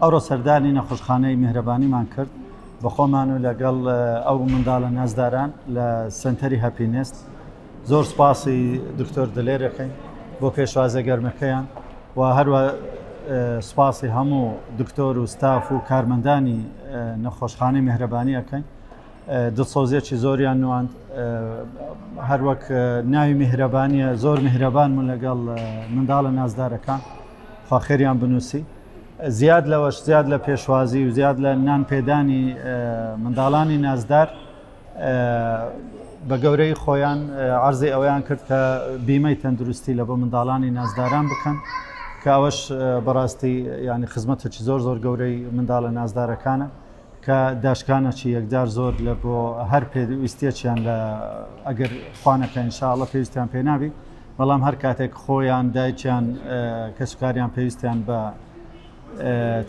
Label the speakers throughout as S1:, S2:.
S1: ئەوڕۆ سەردانی نەخۆشخانەی میهرەبانیمان کرد بەخۆمان و لەگەڵ ئەو منداڵە نازداران لە سەنتەری هەپینست زۆر سپاسی دکتۆر دلێرەکەین بۆ پێشوازە گەرمەکەیان و هەروە سپاسی هەموو دکتۆر و ستاف و کارمەندانی نەخۆشخانەی مهرەبانی ئەەکەین دڵسۆزیەکی زۆریان نواند هەروەک ناوی میهرەبانیە زۆر میهرەبانمون لەگەڵ منداڵە نازدارەکان خواخێریان بنووسی زیاد لەوەش زیاد لە پێشوازی و زیاد لە نان پێدانی منداڵانی نازدار بە گەورەی خۆیان عرضی ئەویان کرد کە بیمەی تەندروستی لە بۆ منداڵانی نازداران بکەن کە ئەوەش بەڕاستی ینی خزمەتەکی زۆر زۆر گەورەی منداڵە نازدارەکانە کە داشکانەکی یەکجار زۆر لە بۆ هەر پێویستێکیان لە ئەگەر خوانەکە انشاءاللە پێویستیان پێ نابی بەڵام هەر کاتێک خۆیان دایکیان کەسکاریان پێویستیان بە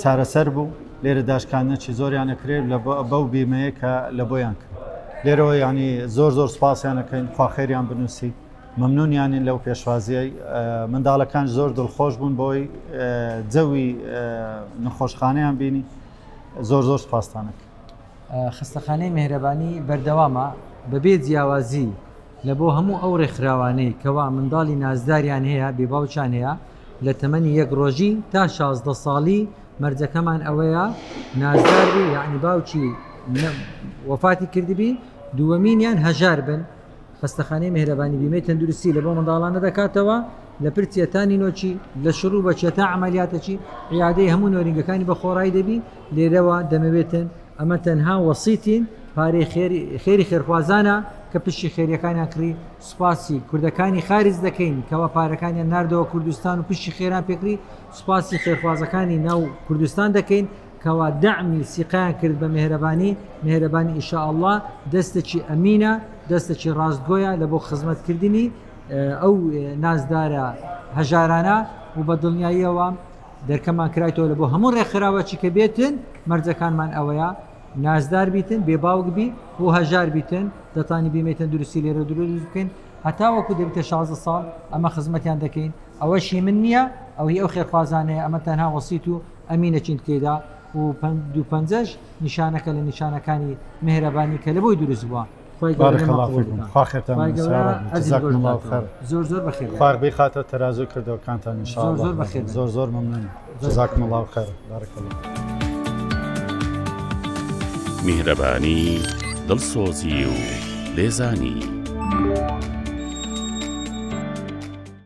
S1: چارەسەر بوو لێرە داشکانەکی زۆریان ئەکرێت لە بەو بیمەیە کە لە بۆیان کرد لێرەوە ینی زۆر زۆر سپاسیانەکەین خواخێریان بنووسی مەمنونیانین لەو پێشوازیای منداڵەکان زۆر دڵخۆش بوون بۆی جەوی نەخۆشخانەیان بینی زۆر زۆر سپاستانەک خستەخانەی
S2: مهرەبانی بەردەوامە بەبێ جیاوازی لە بۆ هەموو ئەو ڕێکخراوانەی کەوا منداڵی نازداریان هەیە بێباوچان هەیە لە تەمەنی یەک ڕۆژی تا شازدە ساڵی مەرجەکەمان ئەوەیە نازداری یعنی باوکی وەفاتی کردبی دووەمینیان هەژار بن خەستەخانەی مێهرەبانی بیمەی تەندروستی لە بۆ منداڵانە دەکاتەوە لە پرچە تا نینۆکی لە شڕوو بە چێ تا عملیاتەکی عیادەی هەموو نۆرینگەکانی بە خۆڕایی دەبی لێرەوە دەمەوێتن ئەمە تەنها وەسیتین پارەی خێری خێرخوازانە کە پشتی خێریەکانیان کڕی سوپاسی کوردەکانی خارج دەکەین کەوا پارەکانیان نردەوە کوردستان و پشتی خێران پێکری سوپاسی خێرخوازەکانی ناو کوردستان دەکەین کوا دەعمی سیقەیان کرد بە مێهرەبانی مێهرەبانی ان شاء اللە دەستەکی ئەمینە دەستەکی ڕاستگۆیە لە بۆ خزمەت کردنی ئەو نازدارە هەژارانە و بە دڵنیاییەوە دەرکەمان کرایتەوە لە بۆ هەموو ڕێکخراوەچی کە بێتن مەرجەکانمان ئەوەیە نازدار بیتن بێ باوک بی و هەژار بیتن دەتانی بیمێتن دروستی لێرە دروست بکەین هەتا وەکو دەبتە 16 ساڵ ئەمە خزمەتیان دەکەین ئەوەشی من نییە ئەوهی ئەو خێرخوازانەیە ئەمە تەنها وەسییت و ئەمینە چین تێیدا و دوو پەنجەش نیشانەکە لە نیشانەکانی مهرەبانی کە لە بۆی دروست بووە خۆی زۆر زۆر بەخێر فاربی خاتە تەازوی
S1: کردەوەکانتان نیشان زۆر بەخێر زۆر زۆر ممنون جزاکم الله خێر بارک الله
S3: میهرەبانی دڵسۆزی و لێزانی.